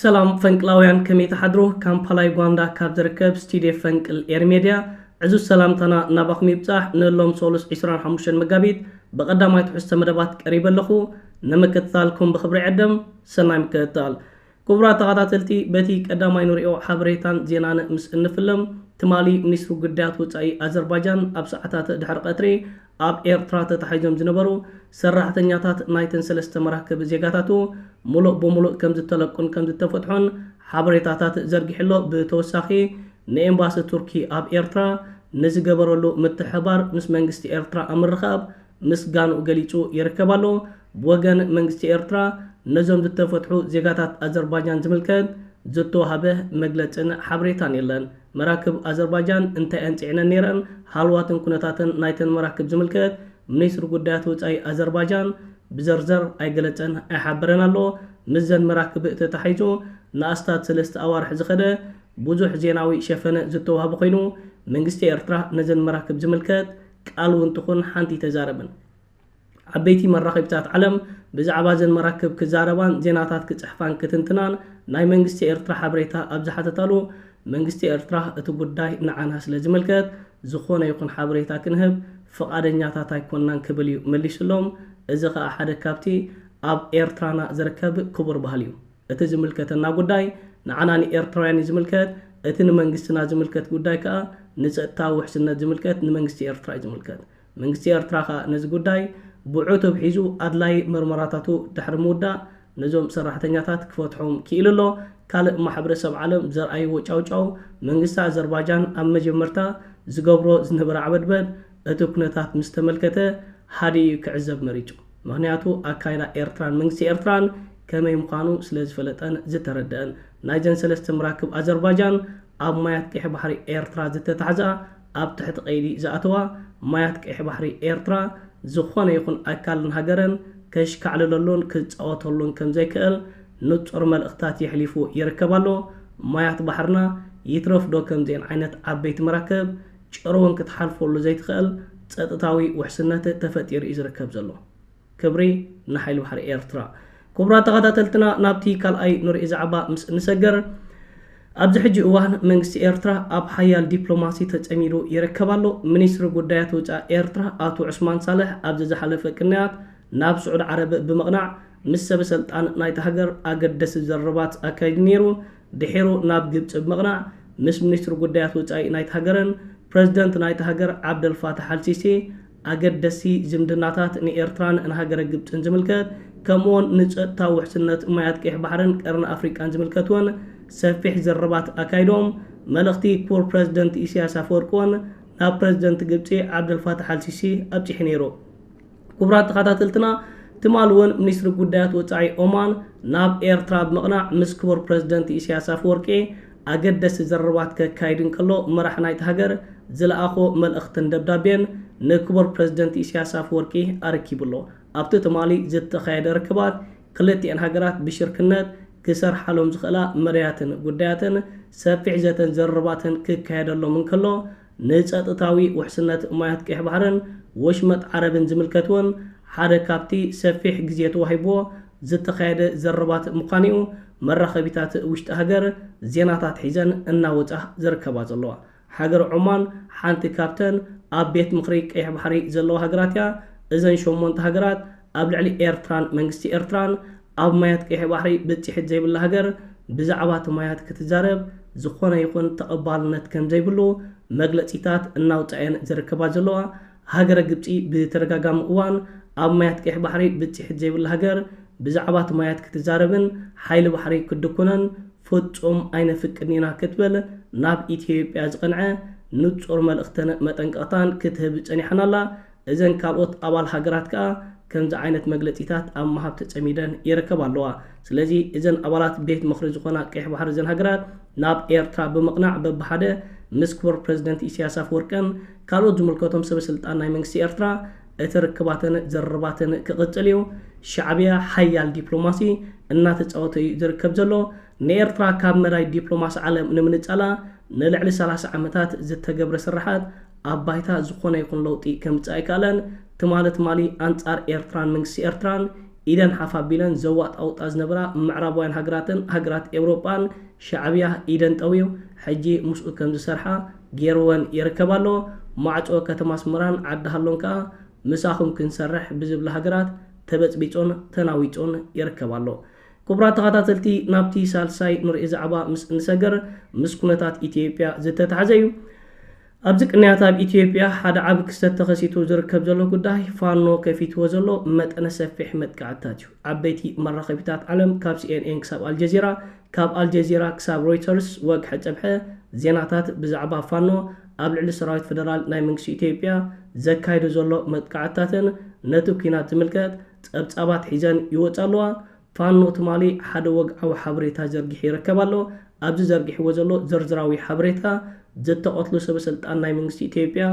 ሰላም ፈንቅላውያን ከመይ ትሓድሩ ካምፓላ ዩጋንዳ ካብ ዝርከብ ስቲድዮ ፈንቅል ኤሪ ሜድያ ዕዙዝ ሰላምታና ናባኹም ይብጻሕ ንሎም ሶሉስ ዕስራን ሓሙሽተን መጋቢት ብቐዳማይ ትሕዝቶ መደባት ቀሪበ ኣለኹ ንምክትታልኩም ብኽብሪ ዕድም ሰናይ ምክትታል ክቡራት ተኸታተልቲ በቲ ቀዳማይ ንሪኦ ሓበሬታን ዜናን ምስ እንፍልም ትማሊ ሚኒስትሪ ጉዳያት ወጻኢ ኣዘርባጃን ኣብ ሰዓታት ድሕሪ ቀትሪ ኣብ ኤርትራ ተታሒዞም ዝነበሩ ሰራሕተኛታት ናይተን ሰለስተ መራክብ ዜጋታቱ ሙሉእ ብሙሉእ ከምዝተለቁን ከምዝተፈትሑን ሓበሬታታት ዘርጊሑ'ሎ ብተወሳኺ ንኤምባሲ ቱርኪ ኣብ ኤርትራ ንዝገበረሉ ምትሕብባር ምስ መንግስቲ ኤርትራ ኣብ ምርኻብ ምስጋንኡ ገሊጹ ይርከብ ኣሎ ብወገን መንግስቲ ኤርትራ ነዞም ዝተፈትሑ ዜጋታት ኣዘርባጃን ዝምልከት ዝተዋህበ መግለጽን ሓበሬታን የለን። መራክብ ኣዘርባጃን እንታይ'የን ጽዒነን ነይረን፣ ሃልዋትን ኩነታትን ናይተን መራክብ ዝምልከት ሚኒስትሪ ጉዳያት ወጻኢ ኣዘርባጃን ብዘርዘር ኣይገለጸን ኣይሓበረን ኣሎ። ምስዘን መራክብእ ተታሒዙ ንኣስታት ሰለስተ ኣዋርሕ ዝኸደ ብዙሕ ዜናዊ ሸፈነ ዝተዋህበ ኮይኑ፣ መንግስቲ ኤርትራ ነዘን መራክብ ዝምልከት ቃል'ውን ትኹን ሓንቲ ኣይተዛረበን። ዓበይቲ መራኺብታት ዓለም ብዛዕባ እዘን መራክብ ክዛረባን ዜናታት ክጽሕፋን ክትንትናን ናይ መንግስቲ ኤርትራ ሓበሬታ ኣብ ዝሓተታሉ መንግስቲ ኤርትራ እቲ ጉዳይ ንዓና ስለ ዝምልከት ዝኾነ ይኹን ሓበሬታ ክንህብ ፍቓደኛታት ኣይኮናን ክብል እዩ መሊሱሎም። እዚ ከኣ ሓደ ካብቲ ኣብ ኤርትራና ዝርከብ ክቡር ባህሊ እዩ። እቲ ዝምልከተና ጉዳይ ንዓና ንኤርትራውያን እዩ ዝምልከት፣ እቲ ንመንግስትና ዝምልከት ጉዳይ ከኣ ንጸጥታዊ ውሕስነት ዝምልከት ንመንግስቲ ኤርትራ እዩ ዝምልከት። መንግስቲ ኤርትራ ከኣ ነዚ ጉዳይ ብዑቱብ ሒዙ ኣድላዪ መርመራታቱ ድሕሪ ምውዳእ ነዞም ሰራሕተኛታት ክፈትሖም ክኢሉ ኣሎ። ካልእ ማሕብረሰብ ዓለም ዘርኣይዎ ጫውጫው መንግስቲ ኣዘርባጃን ኣብ መጀመርታ ዝገብሮ ዝነበረ ዓበድበድ እቲ ኩነታት ምስ ተመልከተ ሃዲኡ እዩ ክዕዘብ መሪጹ። ምኽንያቱ ኣካይዳ ኤርትራን መንግስቲ ኤርትራን ከመይ ምዃኑ ስለ ዝፈለጠን ዝተረደኣን። ናይዘን ሰለስተ መራክብ ኣዘርባጃን ኣብ ማያት ቀይሕ ባሕሪ ኤርትራ ዝተታሕዛ ኣብ ትሕቲ ቀይዲ ዝኣተዋ ማያት ቀይሕ ባሕሪ ኤርትራ ዝኾነ ይኹን ኣካልን ሃገርን ከሽካዕልለሉን ክጻወተሉን ከምዘይክእል ንጹር መልእኽትታት የሕሊፉ ይርከብ ኣሎ። ማያት ባሕርና ይትረፍዶ ከምዚኤን ዓይነት ዓበይቲ መራክብ ጭር'ውን ክትሓልፈሉ ዘይትኽእል ጸጥታዊ ውሕስነት ተፈጢሩ'ዩ ዝርከብ ዘሎ። ክብሪ ንሓይሊ ባሕሪ ኤርትራ። ኩቡራት ተኻታተልትና ናብቲ ካልኣይ ንርኡ ዛዕባ ምስ እንሰገር ኣብዚ ሕጂ እዋን መንግስቲ ኤርትራ ኣብ ሓያል ዲፕሎማሲ ተጸሚዱ ይርከብ ኣሎ። ሚኒስትሪ ጉዳያት ወጻኢ ኤርትራ ኣቶ ዑስማን ሳልሕ ኣብዚ ዝሓለፈ ቅንያት ናብ ስዑድ ዓረብ ብምቕናዕ ምስ ሰበሰልጣን ናይታ ሃገር ኣገደሲ ዘረባት ኣካይዱ ነይሩ። ድሒሩ ናብ ግብጺ ብምቕናዕ ምስ ሚኒስትሪ ጉዳያት ወጻኢ ናይታ ሃገርን ፕረዚደንት ናይታ ሃገር ዓብደልፋታሕ ኣልሲሲ ኣገደስቲ ዝምድናታት ንኤርትራን ንሃገረ ግብጽን ዝምልከት ከምኡ'ውን ንጸጥታዊ ውሕስነት ማያት ቀይሕ ባሕርን ቀርኒ ኣፍሪቃን ዝምልከት'ውን ሰፊሕ ዝርርባት ኣካይዶም። መልእኽቲ ክቡር ፕረዚደንት ኢሳይያስ ኣፈወርቂ'ውን ናብ ፕረዚደንት ግብጺ ዓብደልፋታሕ ኣልሲሲ ኣብጺሑ ነይሩ። ክቡራት ተኸታተልትና ትማል'ውን ሚኒስትሪ ጉዳያት ወጻኢ ኦማን ናብ ኤርትራ ብምቕናዕ ምስ ክቡር ፕረዚደንት ኢሳይያስ ኣፈወርቂ ኣገደስቲ ዘረባት ከካይድ እንከሎ መራሕ ናይታ ሃገር ዝለኣኾ መልእኽትን ደብዳቤን ንክቡር ፕረዚደንት ኢሳያስ ኣፈወርቂ ኣረኪቡ ኣሎ። ኣብቲ ትማሊ ዝተኻየደ ርክባት ክልቲኤን ሃገራት ብሽርክነት ክሰርሓሎም ዝኽእላ መዳያትን ጉዳያትን ሰፊሕ ዘተን ዘረባትን ክካየደሎም እንከሎ፣ ንጸጥታዊ ውሕስነት ማያት ቀይሕ ባሕርን ወሽመጥ ዓረብን ዝምልከት'ውን ሓደ ካብቲ ሰፊሕ ግዜ ተዋሂብዎ ዝተኻየደ ዘረባት ምዃኑ'ዩ መራኸቢታት ውሽጢ ሃገር ዜናታት ሒዘን እናወጻ ዝርከባ ዘለዋ። ሃገረ ዖማን ሓንቲ ካብተን ኣብ ቤት ምኽሪ ቀይሕ ባሕሪ ዘለዋ ሃገራት'ያ። እዘን ሸሞንተ ሃገራት፣ ኣብ ልዕሊ ኤርትራን መንግስቲ ኤርትራን ኣብ ማያት ቀይሕ ባሕሪ ብጺሒት ዘይብላ ሃገር ብዛዕባቲ ማያት ክትዛረብ ዝኾነ ይኹን ተቐባልነት ከምዘይብሉ መግለጺታት እናውጻኤን ዝርከባ ዘለዋ ሃገረ ግብጺ ብተደጋጋሚ እዋን ኣብ ማያት ቀይሕ ባሕሪ ብጺሒት ዘይብላ ሃገር ብዛዕባቲ ማያት ክትዛረብን ሓይሊ ባሕሪ ክትድኩነን ፍጹም ኣይነፍቅድን ኢና ክትብል ናብ ኢትዮጵያ ዝቐንዐ ንጹር መልእኽትን መጠንቀቕታን ክትህብ ጸኒሓን ኣላ። እዘን ካልኦት ኣባል ሃገራት ከኣ ከምዚ ዓይነት መግለጺታት ኣብ ምሃብ ተጸሚደን ይረከባ ኣለዋ። ስለዚ እዘን ኣባላት ቤት ምኽሪ ዝኾና ቀይሕ ባሕሪ እዘን ሃገራት ናብ ኤርትራ ብምቕናዕ በብሓደ ምስ ክቡር ፕረዚደንት ኢሰያስ ኣፈወርቅን ካልኦት ዝምልከቶም ሰበ ስልጣን ናይ መንግስቲ ኤርትራ እቲ ርክባተን ዝርርባተን ክቕጽል እዩ። ሻዕብያ ሓያል ዲፕሎማሲ እናተጻወተ እዩ ዝርከብ ዘሎ። ንኤርትራ ካብ መዳይ ዲፕሎማሲ ዓለም ንምንጻላ ንልዕሊ ሰላሳ ዓመታት ዝተገብረ ስርሓት ኣብ ባይታ ዝኾነ ይኹን ለውጢ ከምጽእ ኣይከኣለን። ትማሊ ትማሊ ኣንጻር ኤርትራን መንግስቲ ኤርትራን ኢደን ሓፍ ኣቢለን ዘዋጣውጣ ዝነበራ ምዕራባውያን ሃገራትን ሃገራት ኤውሮጳን ሻዕብያ ኢደን ጠውዩ ሕጂ ምስኡ ከምዝሰርሓ ጌርወን ይርከብ ኣሎ። ማዕጾ ከተማ ኣስመራን ዓዲ ሃሎን ከኣ ምሳኹም ክንሰርሕ ብዝብላ ሃገራት ተበጽቢጹን ተናዊጹን ይርከብ ኣሎ። ክቡራት ተኸታተልቲ ናብቲ ሳልሳይ ንሪኦ ዛዕባ ምስ እንሰገር ምስ ኩነታት ኢትዮጵያ ዝተታሕዘ እዩ። ኣብዚ ቅንያት ኣብ ኢትዮጵያ ሓደ ዓቢ ክስተት ተኸሲቱ ዝርከብ ዘሎ ጉዳይ ፋኖ ከፊትዎ ዘሎ መጠነ ሰፊሕ መጥቃዕትታት እዩ። ዓበይቲ መራኸቢታት ዓለም ካብ ሲኤንኤን ክሳብ ኣልጀዚራ ካብ ኣልጀዚራ ክሳብ ሮይተርስ ወግሐ ጸብሐ ዜናታት ብዛዕባ ፋኖ ኣብ ልዕሊ ሰራዊት ፈደራል ናይ መንግስቲ ኢትዮጵያ ዘካይዶ ዘሎ መጥቃዕትታትን ነቲ ኲናት ዝምልከት ጸብጻባት ሒዘን ይወጻ ኣለዋ። ፋኖ ትማሊ ሓደ ወግዓዊ ሓበሬታ ዘርጊሑ ይርከብ ኣሎ። ኣብዚ ዘርጊሕዎ ዘሎ ዝርዝራዊ ሓበሬታ፣ ዝተቐትሉ ሰበስልጣን ናይ መንግስቲ ኢትዮጵያ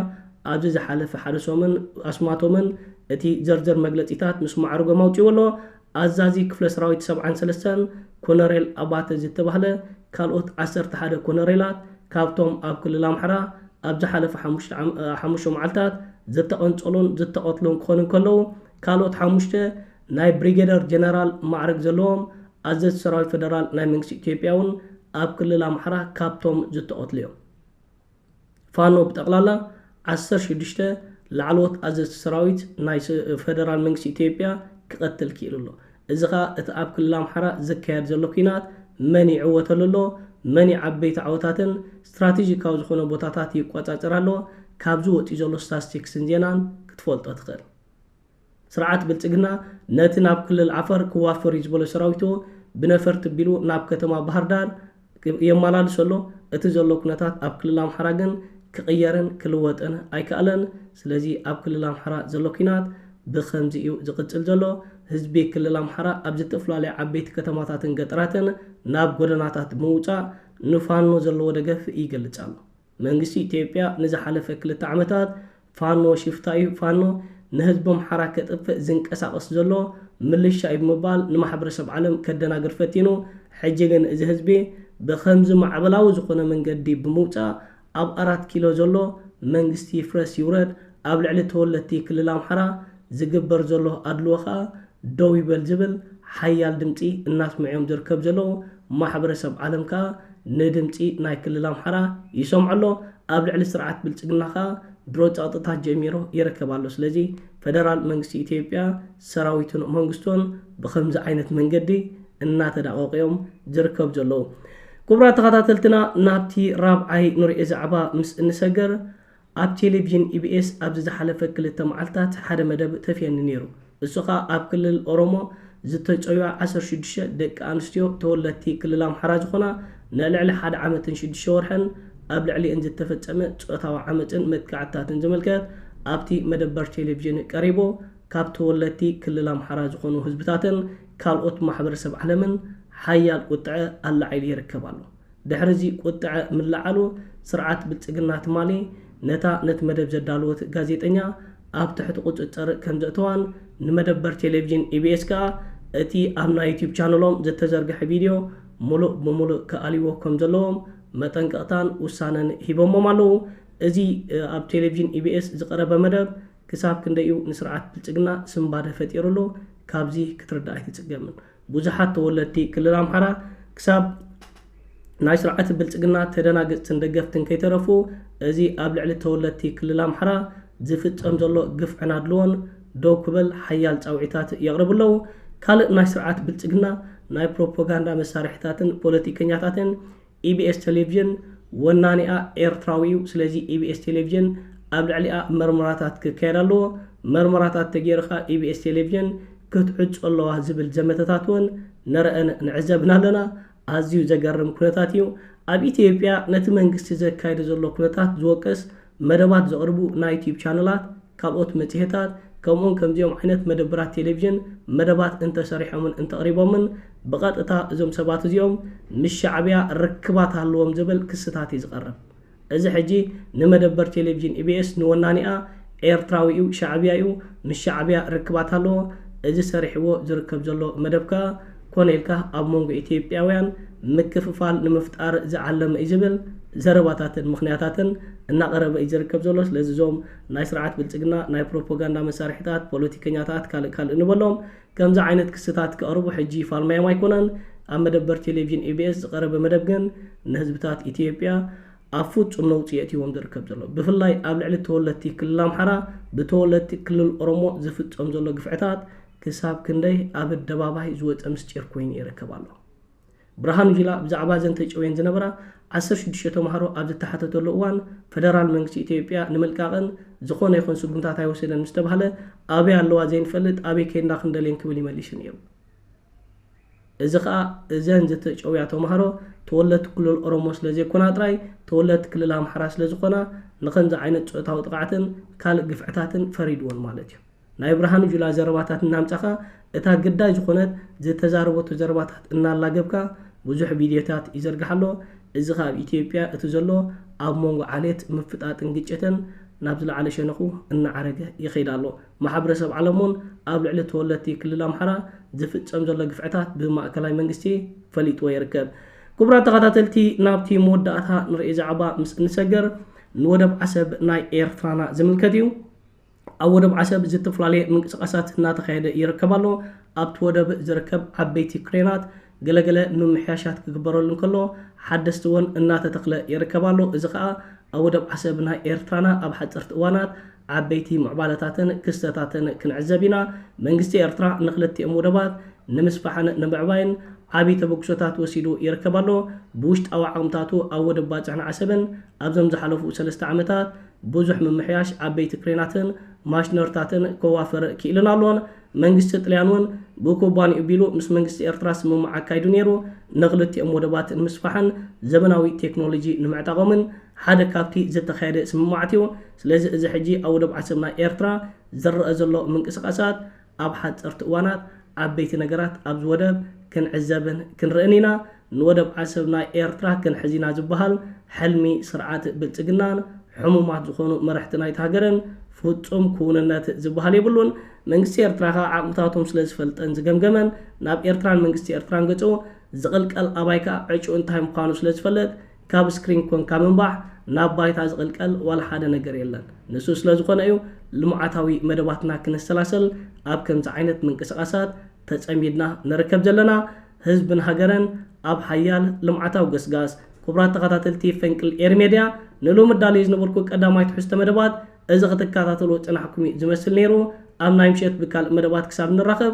ኣብዚ ዝሓለፈ ሓደ ሰሙን ኣስማቶምን እቲ ዝርዝር መግለጺታት ምስ ማዕርጎም ኣውጺእዎ ኣሎ። ኣዛዚ ክፍለሰራዊት ሰብዓን ሰለስተን ኮነሬል ኣባተ ዝተባህለ፣ ካልኦት ዓሰርተ ሓደ ኮነሬላት ካብቶም ኣብ ክልል ኣምሓራ፣ ኣብ ዝሓለፈ ሓሙሽተ መዓልታት ዝተቐንጸሉን ዝተቐትሉን ክኾኑ እንከለዉ፣ ካልኦት ሓሙሽተ ናይ ብሪጌደር ጀነራል ማዕርግ ዘለዎም ኣዘዝቲ ሰራዊት ፈደራል ናይ መንግስቲ ኢትዮጵያ'ውን ኣብ ክልል ኣምሓራ ካብቶም ዝተቐትሉ'ዮም። ፋኖ ብጠቕላላ ዓሰርተ ሽዱሽተ ላዕለዎት ኣዘዝቲ ሰራዊት ናይ ፈደራል መንግስቲ ኢትዮጵያ ክቐትል ክኢሉ ኣሎ። እዚ ከኣ እቲ ኣብ ክልል ኣምሓራ ዝካየድ ዘሎ ኲናት መን ይዕወተሉ ኣሎ፣ መን ይዓበይቲ ዓወታትን ስትራቴጂካዊ ዝኾነ ቦታታት ይቆጻጸር ኣሎ ካብዚ ወጺኡ ዘሎ ስታስቲክስን ዜናን ክትፈልጦ ትኽእል። ስርዓት ብልጽግና ነቲ ናብ ክልል ዓፈር ክዋፈር እዩ ዝበሎ ሰራዊቱ ብነፈርቲ ቢሉ ናብ ከተማ ባህርዳር የማላልሶ ኣሎ። እቲ ዘሎ ኩነታት ኣብ ክልል ኣምሓራ ግን ክቕየርን ክልወጥን ኣይካኣለን። ስለዚ ኣብ ክልል ኣምሓራ ዘሎ ኩናት ብኸምዚ እዩ ዝቕጽል ዘሎ። ህዝቢ ክልል ኣምሓራ ኣብ ዝተፍላለዩ ዓበይቲ ከተማታትን ገጠራትን ናብ ጎደናታት ብምውጻእ ንፋኖ ዘለዎ ደገፍ ይገልጽ ኣሎ። መንግስቲ ኢትዮጵያ ንዝሓለፈ ክልተ ዓመታት ፋኖ ሽፍታ እዩ፣ ፋኖ ንህዝቢ ኣምሓራ ከጥፍእ ዝንቀሳቐስ ዘሎ ምልሻ እዩ ብምባል ንማሕበረሰብ ዓለም ከደናግር ፈቲኑ። ሕጂ ግን እዚ ህዝቢ ብኸምዚ ማዕበላዊ ዝኾነ መንገዲ ብምውጻእ ኣብ ኣራት ኪሎ ዘሎ መንግስቲ ይፍረስ ይውረድ ኣብ ልዕሊ ተወለድቲ ክልል ኣምሓራ ዝግበር ዘሎ ኣድልዎ ከኣ ደው ይበል ዝብል ሓያል ድምጺ እናስምዑ'ዮም ዝርከብ ዘለዉ። ማሕበረሰብ ዓለም ከኣ ንድምጺ ናይ ክልል ኣምሓራ ይሰምዖ ኣሎ። ኣብ ልዕሊ ስርዓት ብልጽግና ከኣ ድሮ ጸቕጥታት ጀሚሩ ይርከብ ኣሎ። ስለዚ ፈደራል መንግስቲ ኢትዮጵያ፣ ሰራዊቱን መንግስቱን ብኸምዚ ዓይነት መንገዲ እናተዳቐቑ'ዮም ዝርከቡ ዘለዉ። ክቡራት ተኸታተልትና ናብቲ ራብዓይ ንሪኦ ዛዕባ ምስ እንሰግር፣ ኣብ ቴሌቪዥን ኢቢኤስ ኣብዚ ዝሓለፈ ክልተ መዓልታት ሓደ መደብ ተፍየኒ ነይሩ። እሱ ከኣ ኣብ ክልል ኦሮሞ ዝተጨውያ ዓሰርተ ሽዱሽተ ደቂ ኣንስትዮ ተወለድቲ ክልል ኣምሓራ ዝኾና ንልዕሊ ሓደ ዓመትን ሽዱሽተ ወርሕን ኣብ ልዕሊኤን ዝተፈጸመ ጾታዊ ዓመጽን መጥቃዕትታትን ዝምልከት ኣብቲ መደበር ቴሌቪዥን ቀሪቡ ካብ ተወለድቲ ክልል ኣምሓራ ዝኾኑ ህዝብታትን ካልኦት ማሕበረሰብ ዓለምን ሓያል ቁጥዐ ኣላዒሉ ይርከብ ኣሎ። ድሕሪ እዚ ቁጥዐ ምልዓሉ ስርዓት ብልፅግና ትማሊ ነታ ነቲ መደብ ዘዳለወት ጋዜጠኛ ኣብ ትሕቲ ቁፅፅር ከምዘእተዋን ንመደበር ቴሌቪዥን ኢቢኤስ ከኣ እቲ ኣብ ናይ ዩትዩብ ቻነሎም ዘተዘርገሐ ቪድዮ ሙሉእ ብሙሉእ ክኣልይዎ ከምዘለዎም መጠንቀቕታን ውሳነን ሂቦሞም ኣለዉ። እዚ ኣብ ቴሌቪዥን ኢቢኤስ ዝቐረበ መደብ ክሳብ ክንደይ እዩ ንስርዓት ብልፅግና ስንባደ ፈጢርሉ ካብዚ ክትርዳእ ኣይትፅገምን። ብዙሓት ተወለድቲ ክልል ኣምሓራ ክሳብ ናይ ስርዓት ብልፅግና ተደናገፅትን ደገፍትን ከይተረፉ እዚ ኣብ ልዕሊ ተወለድቲ ክልል ኣምሓራ ዝፍፀም ዘሎ ግፍዕን ኣድልዎን ደው ክበል ሓያል ፃውዒታት የቕርቡ ኣለዉ። ካልእ ናይ ስርዓት ብልፅግና ናይ ፕሮፖጋንዳ መሳርሒታትን ፖለቲከኛታትን ኢቢኤስ ተሌቭዥን ወናኒኣ ኤርትራዊ እዩ ስለዚ ኢቢኤስ ቴሌቭዥን ኣብ ልዕሊኣ መርመራታት ክካየድ ኣለዎ መርመራታት ተገይሩ ከኣ ኢቢኤስ ቴሌቭዥን ክትዕጾ ኣለዋ ዝብል ዘመተታት ውን ንረእን ንዕዘብን ኣለና ኣዝዩ ዘገርም ኩነታት እዩ ኣብ ኢትዮጵያ ነቲ መንግስቲ ዘካይዶ ዘሎ ኩነታት ዝወቅስ መደባት ዘቕርቡ ናይ ዩትዩብ ቻነላት፣ ካልኦት መጽሔታት፣ ከምኡውን ከምዚኦም ዓይነት መደብራት ቴሌቪዥን መደባት እንተ ሰሪሖምን እንተ ኣቕሪቦምን ብቐጥታ እዞም ሰባት እዚኦም ምስ ሻዕብያ ርክባት ኣሎዎም ዝብል ክስታት እዩ ዝቐርብ። እዚ ሕጂ ንመደበር ቴሌቪዥን ኢቢኤስ ንወናኒኣ ኤርትራዊ እዩ ሻዕብያ እዩ ምስ ሻዕብያ ርክባት ኣሎዎ እዚ ሰሪሕዎ ዝርከብ ዘሎ መደብ ከኣ ኮነ ኢልካ ኣብ መንጎ ኢትዮጵያውያን ምክፍፋል ንምፍጣር ዝዓለመ እዩ ዝብል ዘረባታትን ምኽንያታትን እናቐረበ እዩ ዝርከብ ዘሎ። ስለዚ እዞም ናይ ስርዓት ብልፅግና ናይ ፕሮፖጋንዳ መሳርሒታት፣ ፖለቲከኛታት ካልእ ካልእ ንበሎም ከምዚ ዓይነት ክስታት ከቕርቡ ሕጂ ፋልማዮም ኣይኮነን። ኣብ መደበር ቴሌቪዥን ኢቢኤስ ዝቐረበ መደብ ግን ንህዝብታት ኢትዮጵያ ኣብ ፍፁም ነውፂ የእትይዎም ዝርከብ ዘሎ። ብፍላይ ኣብ ልዕሊ ተወለድቲ ክልል ኣምሓራ ብተወለድቲ ክልል ኦሮሞ ዝፍፀም ዘሎ ግፍዕታት ክሳብ ክንደይ ኣብ ኣደባባይ ዝወጸ ምስጢር ኮይኑ ይርከብ ኣሎ። ብርሃኑ ጁላ ብዛዕባ እዘን ተጨውየን ዝነበራ ዓሰርተ ሽዱሽተ ተማሃሮ ኣብ ዝተሓተተሉ እዋን ፈደራል መንግስቲ ኢትዮጵያ ንምልቃቐን ዝኾነ ይኹን ስጉምታት ኣይወሰደን ምስ ተባህለ ኣበይ ኣለዋ ዘይንፈልጥ ኣበይ ከይድና ክንደልየን ክብል ይመሊሱ ነይሩ። እዚ ከኣ እዘን ዝተጨውያ ተማሃሮ ተወለድቲ ክልል ኦሮሞ ስለ ዘይኮና ጥራይ ተወለድቲ ክልል ኣምሓራ ስለ ዝኾና ንኸምዚ ዓይነት ጾታዊ ጥቕዓትን ካልእ ግፍዕታትን ፈሪድወን ማለት እዩ። ናይ ብርሃኑ ጁላ ዘረባታት እናምጻኻ እታ ግዳይ ዝኾነት ዝተዛረበቶ ዘረባታት እናላገብካ ብዙሕ ቪድዮታት ይዘርጋሕ ኣሎ እዚ ከኣ ኣብ ኢትዮጵያ እቲ ዘሎ ኣብ ሞንጎ ዓሌት ምፍጣጥን ግጭትን ናብ ዝለዓለ ሸነኹ እናዓረገ ይኸይድ ኣሎ ማሕብረሰብ ዓለም ውን ኣብ ልዕሊ ተወለድቲ ክልል ኣምሓራ ዝፍጸም ዘሎ ግፍዕታት ብማእከላይ መንግስቲ ፈሊጥዎ ይርከብ ክቡራት ተኸታተልቲ ናብቲ መወዳእታ ንርእዮ ዛዕባ ምስ እንሰገር ንወደብ ዓሰብ ናይ ኤርትራና ዝምልከት እዩ ኣብ ወደብ ዓሰብ ዝተፈላለየ ምንቅስቓሳት እናተኻየደ ይርከብ ኣሎ። ኣብቲ ወደብ ዝርከብ ዓበይቲ ክሬናት ገለ ገለ ምምሕያሻት ክግበረሉ እንከሎ ሓደስቲ ወን እናተተኽለ ይርከብ ኣሎ። እዚ ከኣ ኣብ ወደብ ዓሰብ ናይ ኤርትራና ኣብ ሓጸርቲ እዋናት ዓበይቲ ምዕባለታትን ክስተታትን ክንዕዘብ ኢና። መንግስቲ ኤርትራ ንክልቲኦም ወደባት ንምስፋሕን ንምዕባይን ዓቢ ተበግሶታት ወሲዱ ይርከብ ኣሎ። ብውሽጣዊ ዓቕምታቱ ኣብ ወደብ ባጽዕን ዓሰብን ኣብዞም ዝሓለፉ ሰለስተ ዓመታት ብዙሕ ምምሕያሽ ዓበይቲ ክሬናትን ማሽነርታትን ከዋፍር ክኢሉን ኣሎን። መንግስቲ ጥልያን እውን ብኩባንይኡ ቢሉ ምስ መንግስቲ ኤርትራ ስምምዕ ኣካይዱ ነይሩ። ንክልቲኦም ወደባት ንምስፋሕን ዘመናዊ ቴክኖሎጂ ንምዕጣቖምን ሓደ ካብቲ ዝተኻየደ ስምምዓት እዩ። ስለዚ እዚ ሕጂ ኣብ ወደብ ዓሰብ ናይ ኤርትራ ዝረኣ ዘሎ ምንቅስቓሳት፣ ኣብ ሓጸርቲ እዋናት ዓበይቲ ነገራት ኣብዚ ወደብ ክንዕዘብን ክንርእን ኢና፣ ንወደብ ዓሰብ ናይ ኤርትራ ክንሕዝ ኢና ዝበሃል ሕልሚ ስርዓት ብልጽግናን ሕሙማት ዝኾኑ መረሕቲ ናይታ ሃገርን ፍጹም ክውንነት ዝበሃል የብሉን። መንግስቲ ኤርትራ ከኣ ዓቕምታቶም ስለ ዝፈልጠን ዝገምገመን ናብ ኤርትራን መንግስቲ ኤርትራን ገጹ ዝቕልቀል ኣባይ ከኣ ዕጭኡ እንታይ ምዃኑ ስለ ዝፈልጥ ካብ ስክሪን ኮንካ ምንባዕ ናብ ባይታ ዝቕልቀል ዋላ ሓደ ነገር የለን። ንሱ ስለ ዝኾነ እዩ ልምዓታዊ መደባትና ክነሰላሰል ኣብ ከምዚ ዓይነት ምንቅስቓሳት ተጸሚድና ንርከብ ዘለና። ህዝብን ሃገርን ኣብ ሓያል ልምዓታዊ ገስጋስ። ኩቡራት ተኸታተልቲ ፈንቅል ኤሪ ሜድያ ንሎሚ ኣዳልየ ዝነበርኩ ቀዳማይ ትሕዝቶ መደባት እዚ ክትከታተልዎ ዝጸናሕኩም እዩ ዝመስል ነይሩ። ኣብ ናይ ምሸት ብካልእ መደባት ክሳብ ንራኸብ